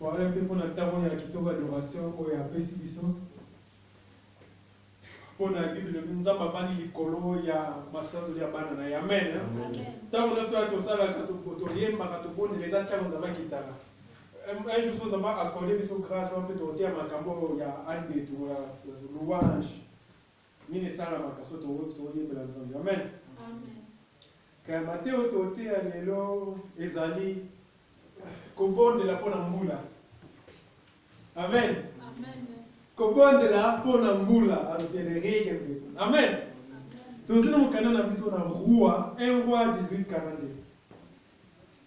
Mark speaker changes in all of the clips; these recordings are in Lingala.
Speaker 1: Voilà mpe mpo na ntango ya kitoko adoration oyo apesi biso mpo na bible elobi nzambe abandi likolo ya masanzoli ya bana na ye amen ntango nyonso ya tosalaka toyembaka tobondela eza ntango nzambe akitaka un jour so nzambe akorde biso grâce wana mpe tokoteya makambo ya andetu ya louange Nini esalamaka soki toyembela Nzambe? Amen. Amen.
Speaker 2: Kaya
Speaker 1: mateyo toteya lelo ezali kobondela mpo na mbula. Amen. Amen.
Speaker 2: Kobondela
Speaker 1: mpo na mbula alukele rege mpe. Amen. Tozali na mokanda na biso na Roi, 1 Roi 1842.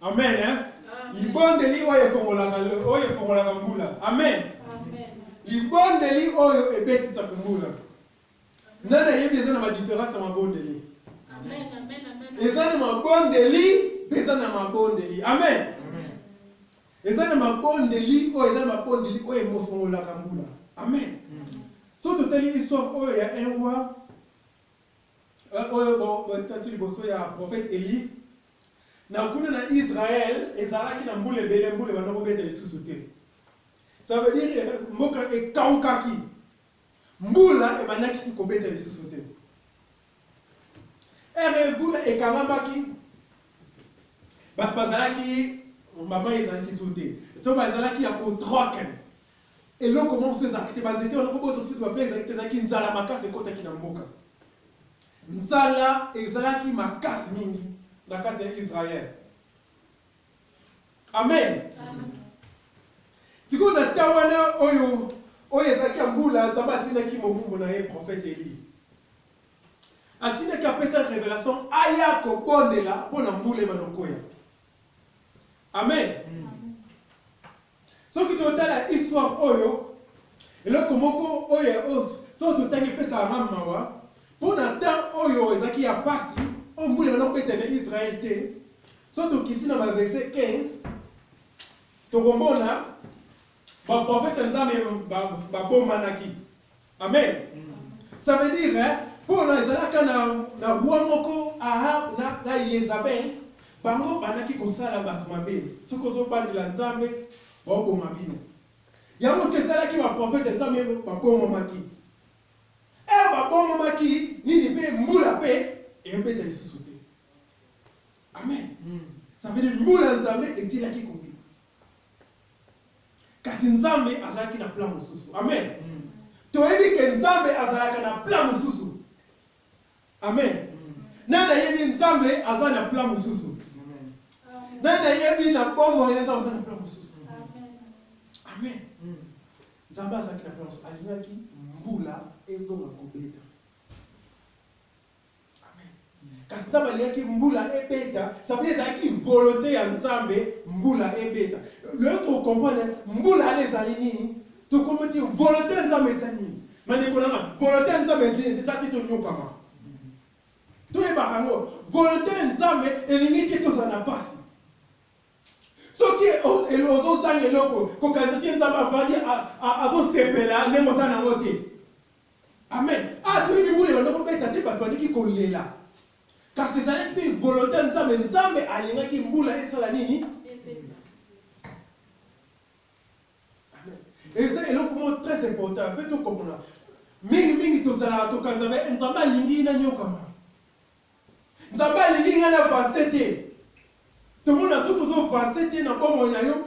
Speaker 3: Amen.
Speaker 1: Eh? Libondeli oyo efongolaka oyo efongolaka mbula. Amen. Libondeli oyo ebetisaka mbula. Nani ayebi eza na badiference ya mabondeli?
Speaker 2: Eza na mabondeli
Speaker 1: mpe eza na mabondeli. Amen. Eza na mabondeli oyo eza na mabondeli oyo emofongolaka mbula. Amen. Soki totali histoire oyo ya un roi oyo botasi liboso ya profete Eli, na kuna na Israël ezalaki na mbula ebele, mbula ebanda kobeta lisusu te. Ça veut dire eh, mboka ekaukaki, mbula ebandaki kobeta lisusu te. Ere mbula ekangamaki, bato bazalaki mama ezalaki su te, so bazalaki ya kotroke Eloko moko mosusu ezalaki te, banzete wana mpo bozwa soki bafleur ezalaki te, ezalaki nzala makasi ekotaki na mboka. Nzala ezalaki makasi mingi na kati ya Israël. Amen. Sikoyo na ntango wana oyo oyo ezalaki ya mbula, Nzambe atindaki mobumbu na ye prophète Elie. Atindaki apesa revelation aya kobondela mpo na mbula ebanda koya. Amen. Soki totala histoire oyo, eloko moko oyo soki totangi epesaka nga mawa, mpo na temps oyo ezalaki ya pasi, oyo mbula ebanda kobeta na Israël te, soki tokiti na ba verset 15, tokomona ba prophète ya Nzambe babomanaki. Amen. Ça veut dire, hein, pour na ezalaka na, na roi moko Ahab na, na Yezabel, bango bandaki kosala bato mabe. Soki ozobandela Nzambe, baoboma bino. Yango soki esalaki baprofete Nzambe babomamaki. Ere babomamaki nini mpe mbula mpe ebeta lisusu te. Amen. Ça veut dire mbula Nzambe esilaki kobima. kasi nzambe azalaki na plan mosusu amen mm. toyebi ke nzambe azalaka na plan mosusu amen mm. nani ayebi nzambe aza na plan mosusu nani ayebi na bomoi na nzambe aza na plan mosusu amen mm. nzambe azalaki na plan mosusu alingaki mbula ezonga kobeta kasi nzambe alingaki mbula ebeta sabili ezalaki volonte ya nzambe mbula ebeta loyo tokokomprendre mbula ale ezali nini tokomprendre te volonte ya nzambe eza nini bandeko nanga volonte ya nzambe eza te tonyokama toyebaka yango volonte ya nzambe elingi te tozala na mpasi soki ozozanga eloko kokanisa te nzambe avandi azosepela ndenge oza nango te Amen! Awa toyebi mibulu ebanda kobeta te, bato bandiki kolela. Kasi ezalaki mpe volonte ya Nzambe. Nzambe alingaki mbula esala nini? Ebeta. Amen! Eza eloko moko très important, il faut tokomona. Mingi mingi tozalaka tokanzaka, eh, Nzambe alingi nanyokama. Nzambe alingi ngai na avancer te. Tomona soki ozo avancer te na bomoi na yo,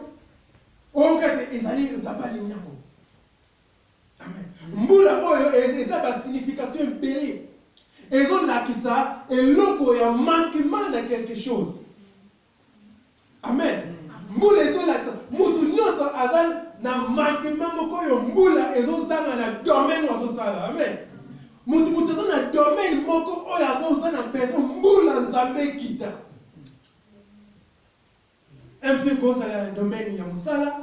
Speaker 1: oyoka ete ezali Nzambe alingi yango. Mbula oyo eza ba signification ebele ezolakisa eloko ya manquement na quelque chose. Amen. Mbula ezolakisa mutu nyonso aza na manquement moko oyo mbula ezozanga na domaine azosala. Amen. Mutu mutu aza na domaine moko oyo azoza na besoin mbula nzambe ekita. MV kozala na domaine ya mosala,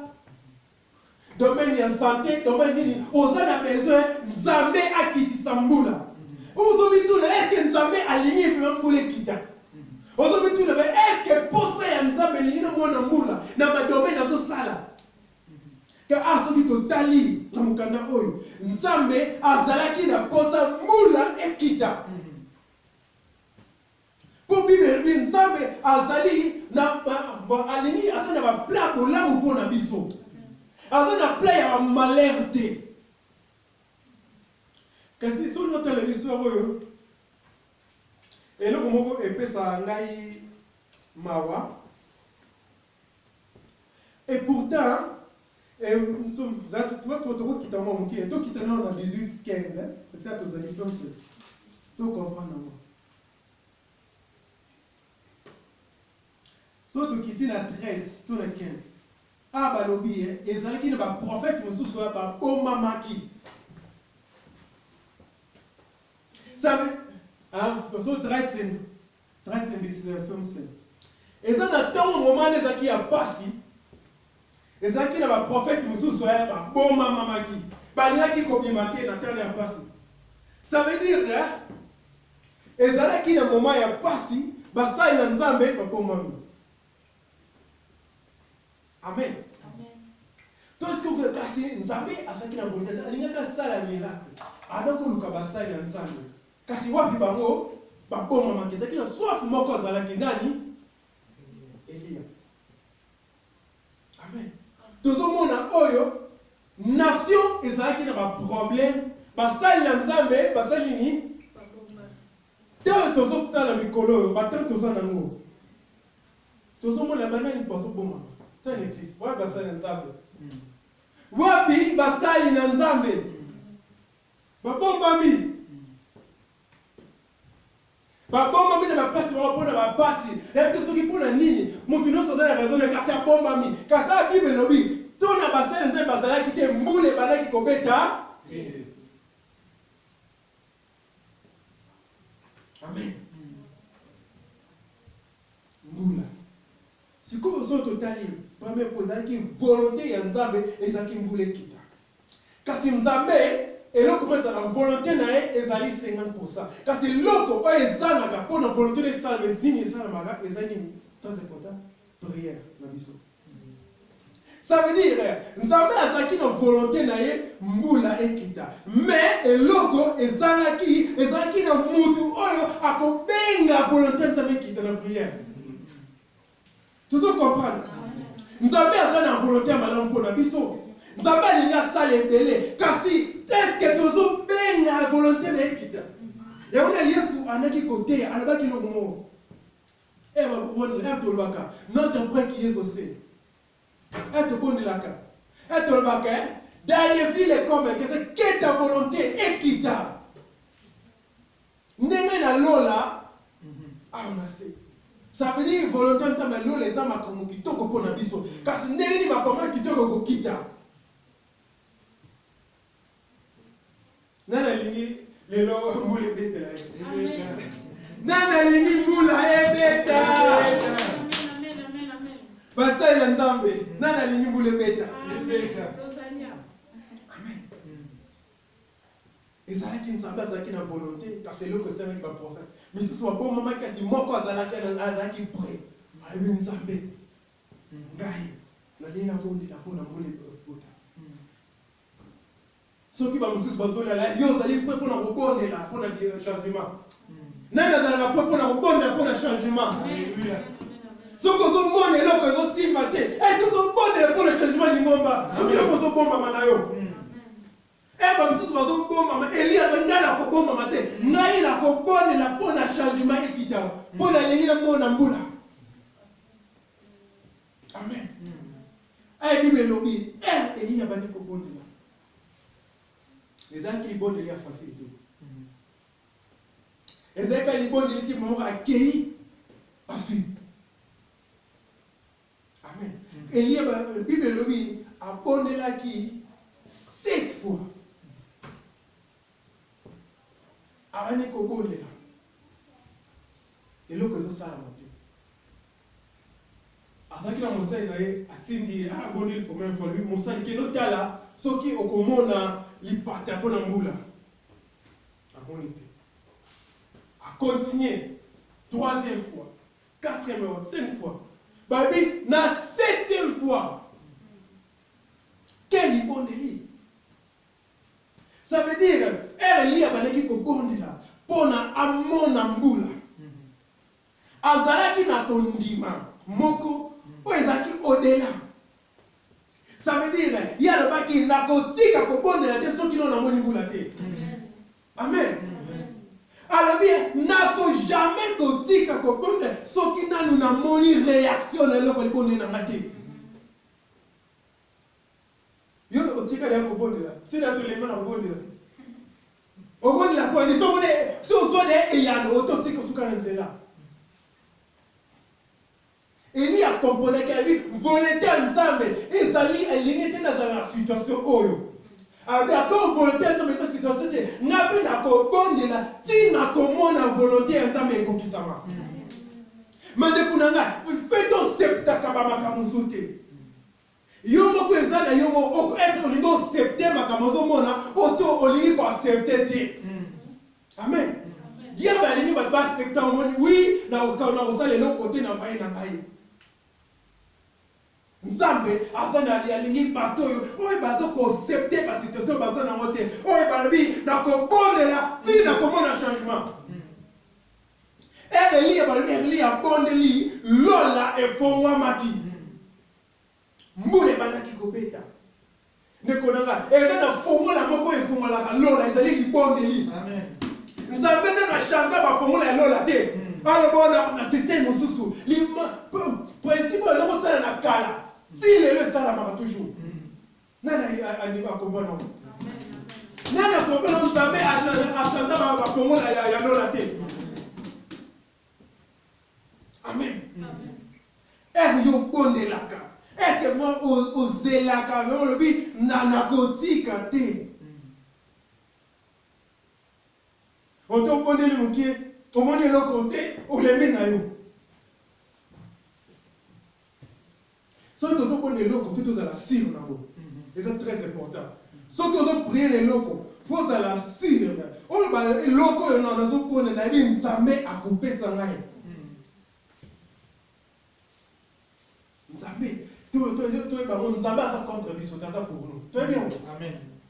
Speaker 1: domaine ya sante, domaine nini oza na besoin Nzambe akitisa mbula. Ozomituna eske Nzambe alingi epema mbula ekita? Ozomituna ba eske posa ya Nzambe elingi na mwana mbula na badomaine azosala? Ka a ah, soki totali na mokanda oyo Nzambe azalaki na posa mbula ekita. Po bible elobi nzambe azali na alingi aza na ba plan bolamu mpo na biso aza na plan ya ba malheur te kasi soki otala histoire oyo eloko moko epesaka ngai mawa Et pourtant, eh, nous sommes, nous avons- tu vois, tu vois, tu vois, quitte à moi, mon cœur, toi, quitte à nous, on a 18, 15, hein, parce que là, tu as dit, donc, tu- tu comprends, non, moi. so tokiti na 13 to na 15 a balobi ye ezalaki na baprofete mosusu oyo babomamaki Sabe- ah, so 13 Traites imbeciles ya FMC. Eza na tango moment wana ezalaki ya pasi, ezalaki na ba prophètes mosusu eh, ba bomamamaki, balingaki kobima te na temps ya pasi. Ça veut dire eh, ezalaki na moment ya pasi, basali na Nzambe babomami. Amen. tosikoka kasi nzambe azalaki na volonte alingaki asala miracle ana koluka basali ya nzambe Kasi wapi bango babomamaki? Ezalaki na soif moko, azalaki nani? Eliya. Amen. Tozomona oyo nation ezalaki na ba problème, basali na Nzambe basali nini? Ntango tozotala mikolo oyo, batango toza nango, tozomona banani bazobomama ta na eglise wapi basali na nzambe wapi basali na nzambe Babombami. Babombami na bapasi bango mpo na bapasi. Nayebi te soki mpo na nini moto nyonso aza na raison na ye, kasi abombami. Kasi awa Bible elobi to na basali Nzambe bazalaki te, mbula ebandaki kobeta te. Amen. Sikoyo soki totali première point ezalaki volonte ya nzambe ezalaki mbula ekita kasi nzambe eloko moko ezala na volonte na ye ezali 50 pourcent kasi eloko oyo ezangaka mpo na volonte na esalama nini esalamaka ezali nini très important prière na biso Ça veut dire nzambe azalaki na volonte na ye mbula ekita mais eloko ezangaki ezalaki na mutu oyo akobenga volonte ya nzambe ekita na prière tozo comprendre nzambe aza na volonte ya malamu mpo na biso nzambe alingi asala ebele kasi eske tozobenga volonte na ekita yango na yesu andaki koteya alobaki eloko moko Eh ba bobondela eh tolobaka notre père qui es aux cieux eh tobondelaka eh tolobaka eh dans les villes comme que c'est que ta volonté ekita ndenge na lola awa na se ça veut dire volonté nzambe lola eza makambo kitoko mpo na biso kasi ndenge nini makambo kitoko kokita Nani alingi lelo mbula ebetela ye? Nani alingi mbula ebeta? Basali ya Nzambe, nani alingi mbula ebeta? ezalaki nzambe azalaki na volonte kasi eloko esalaki baprofete misusu babomamaki kasi moko azalaki azalaki pre ayebi nzambe ngai nalingi nabondela mpo na mbula ebota soki bamosusu bazolala yo ozali mpe mpo na kobondela mpo na changement nani azalaka mpe mpo na kobondela mpo na changement soki ozomona eloko ezosimba te esi ozobondela mpo na changement lingomba oki oko ozobombama na yo e eh, bamosusu bazobombama eliya mpe ngai nakobombama te ngai nakobondela mpo na changement ekitama mpo nalingi namona mbula amen aye eh, bible elobi ere eh, eliya abandi kobondela ezalaki libondeli ya fasile te ezalaki libondeli te moko akei azwi amen eliya bible elobi abondelaki sept fois abandi kobondela eloko ezosalama te azalaki na mosali na ye atindi ye ah boni première fois lui mosali kende otala soki okomona lipata mpo na mbula amoni te akontinue troisième fois quatrième fois cinq fois babi na septième fois quel libondeli ça veut dire ere liya bandaki kobondela mpo na amona mbula Azalaki na kondima moko oyo ezalaki au-dela. Ça veut dire, ye alobaki, nakotika kobondela te soki nano namoni mbula te. Amen. Alobi, nako jamais kotika kobondela soki nano namoni reaction na eloko libondeli na nga te. Yo otikali ya kobondela, sila ya tolemba na kobondela. Obondela mpo ni somo ne, so ozwa ne eyano otosi kosuka na nzela. Eli akomponaki abi volonte ya Nzambe ezali elingi te nazala na situation oyo. Abi ako volonte ya Nzambe eza situation te, nga mpe nakobondela ti nakomona volonte ya Nzambe ekokisama. Mandeko na nga, mpe toseptaka ba makambo mosusu te. Yo moko eza na yo moko oko est ce que olingi ocepte makambo ozo mona oto olingi ko accepte te amen diable alingi bato ba accepte omoni wi na kosala eloko te na maye na ngai nzambe aza na alingi bato oyo oyo bazo kocepte ba situation baza nango te oyo balobi na kobondela ti na komona changement erlie balobi erlie abondeli lola efongwamaki Mbula ebandaki kobeta. Ndeko na nga, eza na fongola moko efongolaka lola, ezali libondeli. Nzambe nde na chanza ba fongola ya lola te. Hmm. Aloba wana na système mosusu. Principe oyo eloko sala na kala, ti lelo esalamaka toujours. Hmm. Nani andimi akomba na Nani akomba na Nzambe achanza ba fongola ya lola te. Hmm. Amen. Amen. Eve yo bondelaka. Est-ce que moi ozelaka mais olobi na nakotika te. Otobondeli mokie omoni eloko te olembi na yo. soki tozo boni eloko fi tozala sur nango eza très important soki ozo prier na eloko fo ozala sur oyo ba eloko oyo na nazo pona na yebi nzambe akopesa ngai nzambe toyeba ngo nzambe aza contre biso te aza pour nous toyebi yango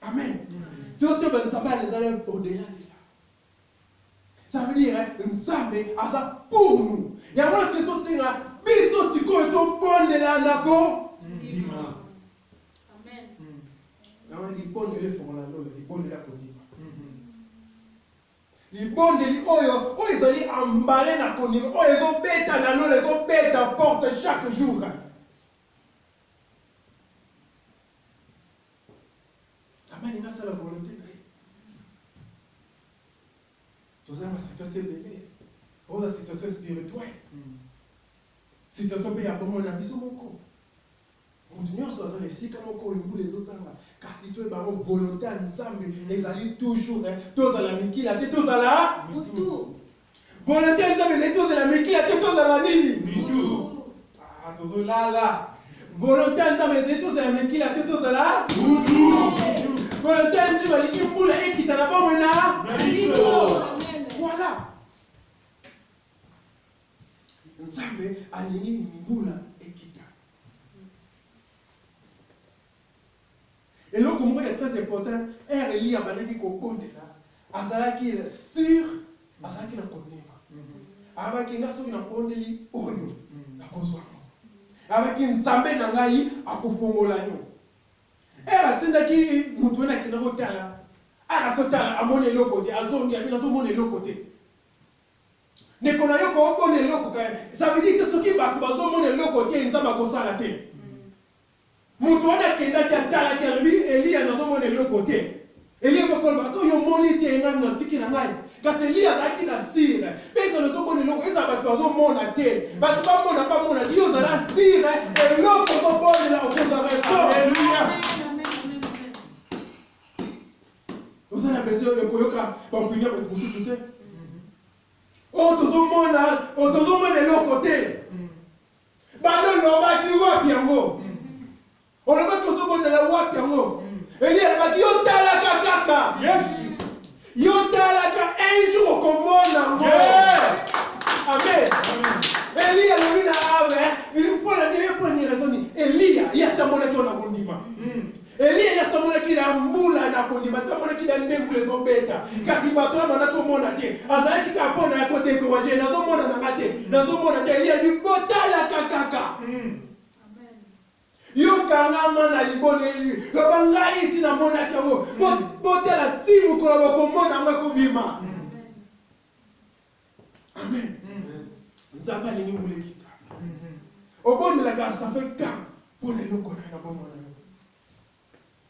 Speaker 1: Amen. Sio te banzambe alizali au-delà déjà. Ça veut dire nzambe aza pour nous. Yango eske ezosenga biso sikoyo tobondela na kondima. Amen.
Speaker 2: Yango
Speaker 1: libondeli efongola lola, libondeli ya kondima. libondeli oyo oyo ezali ambale na kondima oyo ezobeta na lola ezobeta porte chaque jour Nzambe alingi asala volonte na ye. Tozala na situation ebele oza situation spirituelle hmm. situation mpe ya bomoi na biso moko moto nyonso aza na esika moko oyo mbula ezozanga kasi to ebango volonté ya nzambe ezali toujours eh, tozala mikila te tozala mutu
Speaker 2: Volonte ya
Speaker 1: Nzambe ezali tozala mikila te tozala nini? Mitu.
Speaker 2: Ah,
Speaker 1: tozolala. Volonte ya Nzambe ezali tozala mikila te tozala mutu. Volonte ya Nzambe alingi mbula ekita na bomoi na biso. Voilà. Nzambe alingi mbula Eloko moko ya très important, heure Eliya abandaki kobondela, azalaki sur, azalaki na kondima. Alobaki, nga soki nabondeli oyo, nakozwa yango. Alobaki, Nzambe na ngai akofongola yo. Heure atindaki moto wana akenda kotala, aka totala, amoni eloko te, azongi, abi nazomona eloko te. Ndeko na yo koomona eloko, ça veut dire que soki bato bazomona eloko te, Nzambe akosala te. Moto wana akendaki, atalaki, alobi, Eliya, nazomona eloko te. Eliya mpe akoloba, Ko, yo omoni te ngai moto atiki na ngai? Kasi Eliya azalaki na sire. Mpe ezala ozomona eloko, ezala bato bazomona te, bato bamona, bamona te, yo zala sire, eloko ozobondela okozwa reponse. Aleluya! Oza na besoin ya koyoka bampuni ya bato mosusu te. Oyo tozomona, oyo tozomona eloko te. Balo lobaki wapi yango? Olobaki ozo bondela wapi yango? Elie alobaki yo talaka kaka. Yes. Yo talaka un jour okomona ngo. Yeah. Amen. Elie alobi na awe, mpo na nini mpo na nini raison nini? Elie, ye asambolaki wana kondima. Mm. Eliya ye asamonaki na mbula na kondima, asamonaki na nde mbula ezobeta, kasi bato wana natomona te, azalaki kaka mpo na kodekouraje, nazomona na nga te, nazomona te. Eliya alobi botalaka kaka mm. yokangama na liboneli loba ngai esi namonaki yango, botala ti mokolo bokomona yango ekobima. Amen. Nzambe alingi ngulu ekita. Obondelaka asafe ka mpo na eloko na ye na bomoi na yo.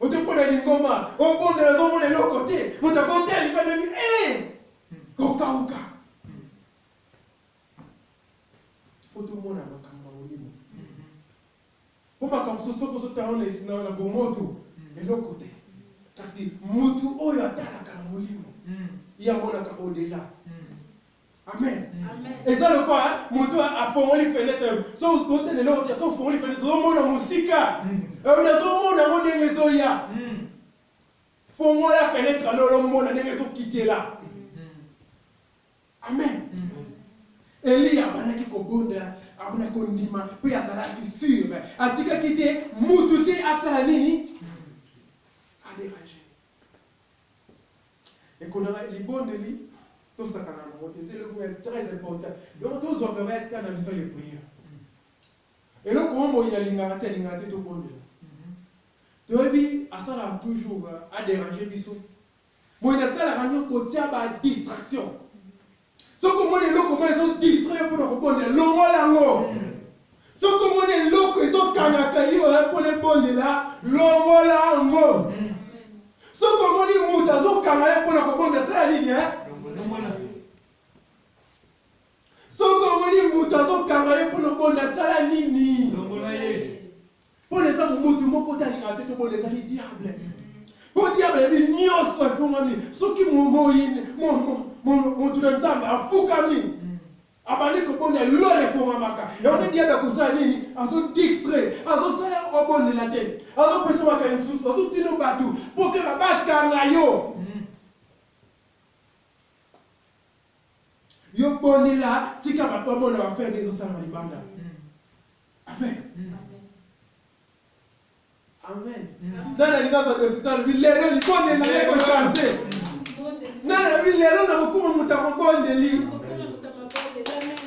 Speaker 1: Ote mpo na lingoma, obondela azomona eloko te. Moto akotela libanda ni eh! kokauka. Fo tomona makambo ya molimo. Po makambo mosusu soki ozo tala yango na bomoto eloko te, kasi mutu oyo atalaka na molimo ye amonaka au delà. Amen. Eza lokola mutu afongoli fenetre, soki totala eloko te, soki ofongoli fenetre ozo mona mosika, euh, nazo mona yango ndenge ezoya. Fongola fenetre na olomona ndenge ezo kitela. Amen. Eliya abandaki kobondela, abandaki kondima mpe azalaki sur, atikaki te mutu te asala nini aderange ekonaka libondeli tosakana nango te eza eloko ya très important donc tozwaka bayata na biso le prière eloko oyo moyi alingaka te alingaka te tobondela toyebi asalaka toujours aderange biso Boye nasalaka nini kotia ba distraction. Soki omoni eloko moko ezo distraire mpo na kobondela, longola yango. Soki omoni eloko ezokangaka yo eh, mpo na ebondela, longola yango. Soki omoni moto azokanga ye mpo na kobondela, sala nini eh? Soki omoni moto azokanga ye mpo na kobondela, sala nini? Pona eza mutu moko te alingaka te tobona ezali diable. Po diable ayebi nyonso efungwami soki momoyini motu na Nzambe afukami abandi kobondela lola efungwamaka yango nde diable akosala nini azodistre azosala obondela te azopesa makai mosusu azotino bato mpo kaka bakanga yo yo bondela tika bato bamona bafere nde ezosalama libanda Amen. Amen. Nani alinga za desizalo bilelo libonde na ye ko change. Nani abi lelo na kokuma moto ya mabondeli.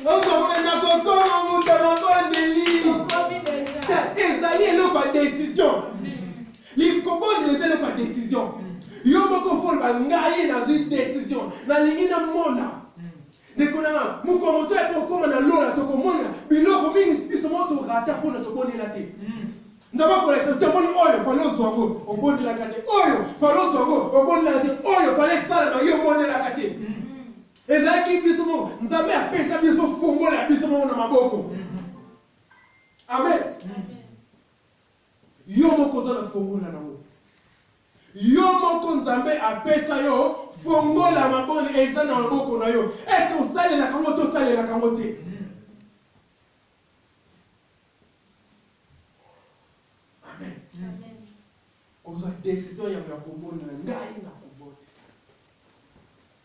Speaker 1: Ozokoma na kokoma moto ya mabondeli. Ezali eloko ya decision. Likobondela eza eloko ya decision. Yo moko foloba ngai nazwi decision. Nalingi namona. Ndeko na nga, mokolo mosusu ete okoma na lola, tokomona biloko mingi biso moko to rata mpo na tobondela te. Nzambe akolakisa toboni oyo fale ozwa yango, obondelaka te. Oyo fale ozwa yango, obondelaka te. Oyo fale esalama yo, obondelaka te. Ezalaki biso moko. Nzambe apesa biso fungola ya biso moko na maboko. Amen. Yo moko oza na fungola na yango. Yo moko nzambe apesa yo fongola mabonne eza na maboko na yo est ce osalelaka yango to osalelaka yango te amen kozwa decision yango ya kobondela ngai na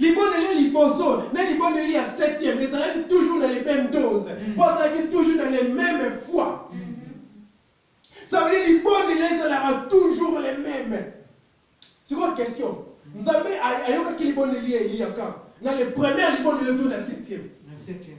Speaker 1: Libondeli ya liboso na libondeli ya septième ezalaki toujours na les mêmes doses. Mm. Mpo azalaki toujours na les mêmes foi. Mm-hmm. Ça veut dire libondeli ezalaka toujours les mêmes. Sikoyo question. Nzambe ayokaki libondeli ya Eliya quand? Na le premier libondeli to na septième. Na septième.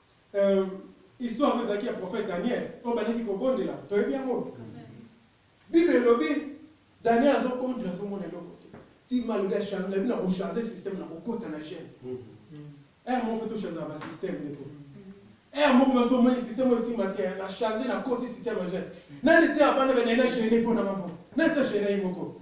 Speaker 1: Euh, histoire oyo ezalaki ya prophète Daniel oyo bandaki kobondela, toyebi yango. Bible elobi Daniel azobondela azomona eloko te. Ti malobi ya change, bino ko changer système na kokota na gene. Mm-hmm. Eh mon frère, to changer ba système ndeko. Eh moko baso omoni système osimba te na changer na koti système ya gene. Nani se abana bana na gene mpo na maboko. Nani se gene ye moko.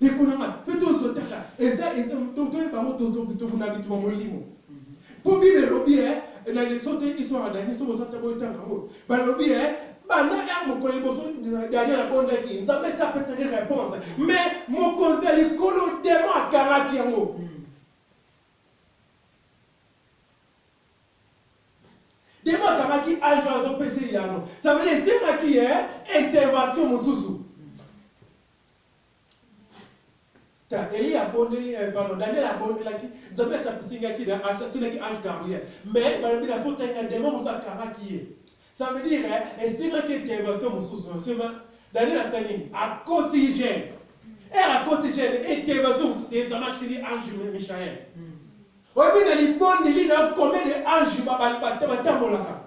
Speaker 1: Ndeko na nga, mpe tozo tala, eza, eza, to, toyeba yango, to, to, to, na bituma molimo. Mpo Bible elobi, eh, na leso te, iso adani, soki oza te, boyetanga yango. Balobi, eh, banda ya mokolo liboso, Daniel abondaki, Nzambe se apesaki reponse, mais mokonzi ya likolo, demon akangaki yango. Demon akangaki ange azopesa eyano. Ça veut dire, ezengaki, eh, intervention mosusu. Ta Elie abondeli, eh, pardon, Daniel abondelaki, Nzambe asapisi nga ki na asasinaki ange Gabriel. Mais balobi na fota nga demon mosu akangaki ye. Ça veut dire eh, esengaki intervention mosusu. Sema Daniel asali nini? Akoti jeune. Ere akoti jeune, intervention mosusu ye Nzambe achili ange Michael. Oyebi na libondeli na yo combien de ange batambolaka?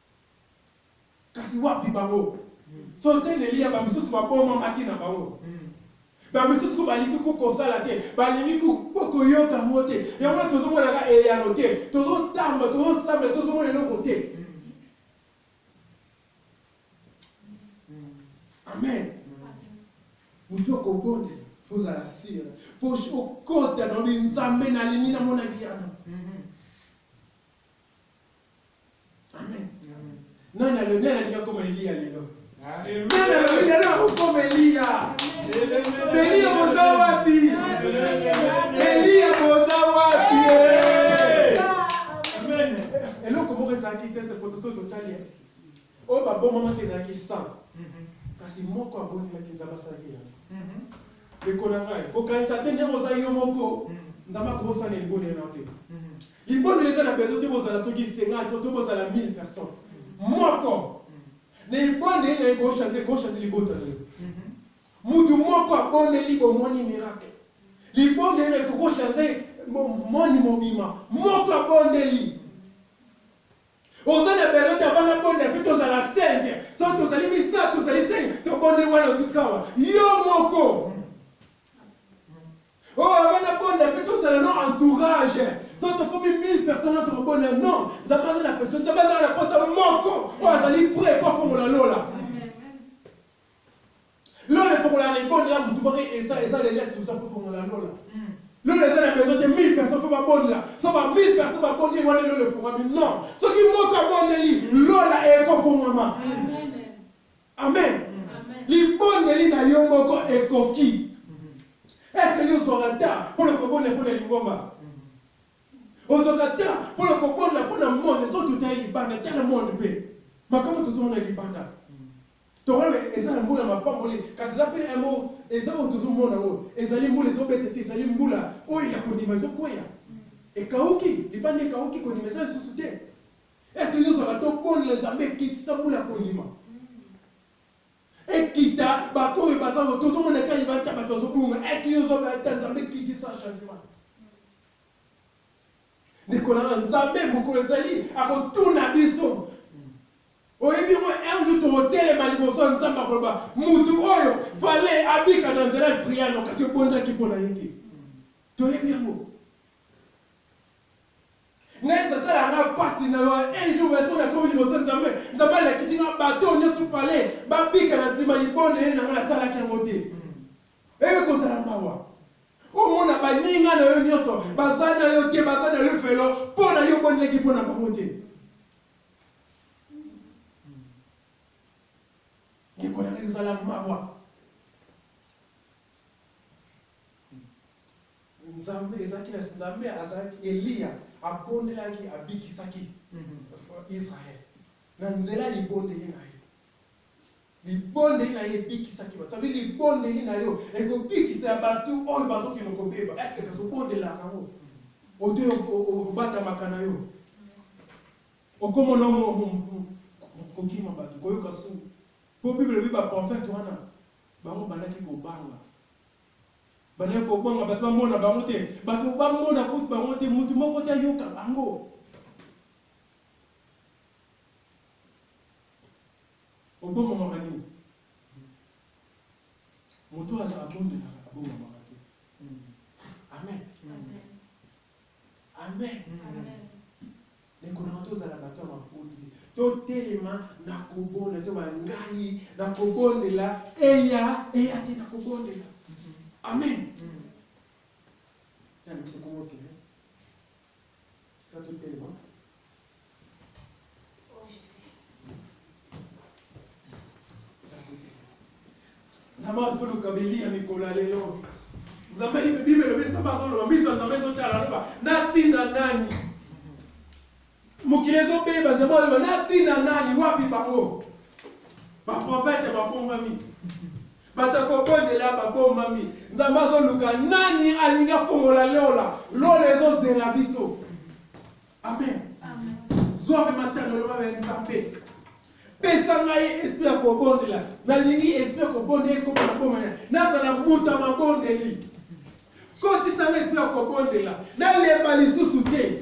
Speaker 1: Kasi wapi bango? Soki te Nelia, ba misusu ba boma maki na bango. Ba misusu ko balingi ko kosala te, balingi ko boko yoka ngo te. Yango na tozo mona ka eyano te. Tozo tamba, tozo sambela, tozo mona eloko te. Amen. Mutu oko bonde, faut zala sira. Faut okota na obi nzambe na lingi na mona biyano. Amen. Nani alo nani alinga koma Eliya lelo? Nani alo nani akokoma Eliya? Eliya boza wapi? Eliya boza wapi? Eloko moko ezalaki te se poto so totali Oyo babomamaki ezalaki 100, kasi moko abondelaki Nzambe, asalaki eyano. Ndeko na ngai, kokanisa te ndenge oza yo moko, Nzambe akobosana libondeli na yo te. Libondeli eza na besoin te bozala soki 50 to bozala 1000 personnes. Moko na ebondeli na ye eko changer, eko changer libota na yo. Mutu moko abondeli, bomoni miracle. Libondeli na ekoko changer monde mobima. Moko abondeli. Oza na besoin ta bana bonda pe tozala cinq soki tozali misato tozali cinq tobondeli wana ozwi kawa yo moko oyo oh, abana bonda pe tozala no entourage soki tokomi 1000 personne oyo tokobonda non nzambe aza na besoin nzambe azala na posa moko oyo azali pre po afongola lola Lola efongola na ibonde la mutu moko eza eza deja suza pour fongola lola. Lola eza na besoin te 1000 personnes faut ba bonde la. So ba 1000 personnes ba bonde wana lola efongami non. Soki moko abondeli lola eko fongama. Amen. Libondeli na yo moko ekoki. Est-ce que yo zwaka ta pour le kobonde pour le lingomba? Ozwaka ta pour le kobonde pour le monde, so tutali libanda, tala monde pe. Makambo tozomona libanda. Tokola mais eza na mbula mapamboli kasi eza pe na yango eza oyo tozo mona yango ezali mbula ezo beta te ezali mbula oyo ya kondima ezo kweya ekawuki libanda ekawuki kondima eza lisusu te est ce que tozwaka tobolela nzambe ekitisa mbula ya kondima ekita bato oyo baza tozo mona kaka libanda bato bazo bunga est ce que tozwaka ata nzambe ekitisa changement ndeko na nga nzambe mokolo ezali akotuna biso oyebi yango un jour tokotelema liboso ya nzambe akoloba motu oyo vale abika na nzela ya priano kasi obondelaki mpo na ye te toyebi yango ngai esasala nga mpasi na un jour eso nakomi liboso nzambe nzambe alakisi nga bato nyonso pale babika na nsima libonde ye na ngai nasalaki yango te Eko kozala mawa omona baninga na yo nyonso baza na yo te, baza na lifelo mpo na yo obondelaki mpo na bango te. Ndeko na ngai, kozala mawa. Nzambe ezalaki na Nzambe, azalaki Eliya abondelaki, abikisaki Israël na nzela libondeli na ye. Libondeli na ye ebikisaki bato. Ça veut dire libondeli na yo ekobikisa ya bato oyo bazokende kobeba. Est-ce que kasi obondelaka yango? Oto obatamaka na yo? Okomona kokima bato, koyoka soni. Mpo Bible elobi ba prophète wana bango bandaki kobanga. Bandaki kobanga bato bamona bango te. Bato bamona kutu bango te, moto moko te ayoka bango. Obomamaka nini? Moto oyo abondelaka abomamaka te. Amen. Amen. Ndeko na ngai, tozala bato ya mabondeli, totelema na kobondela, to bangai na kobondela, eya eya te na kobondela. Amen. Nani mpe komokele Sato telema. Oh Jésus. Nzambe azoluka beli ya mikolo ya lelo. Nzambe Biblia elobi Nzambe azoloba miso ya Nzambe ezotala aloba natinda nani? Mokili ezobeba Nzambe aloba natinda nani? Wapi bango? Baprofete babombami. Bato ya kobondela babombami. Nzambe azoluka nani alingi afongola lola. Lola ezozela biso. Amen. Zwa mpe matano loba ya Nzambe. Pesa ngai esprit ya kobondela. Nalingi esprit ya kobondela ekoma na boma ya. Nazala moto ya mabondeli. Kosisa ngai esprit ya kobondela. Nalemba lisusu te.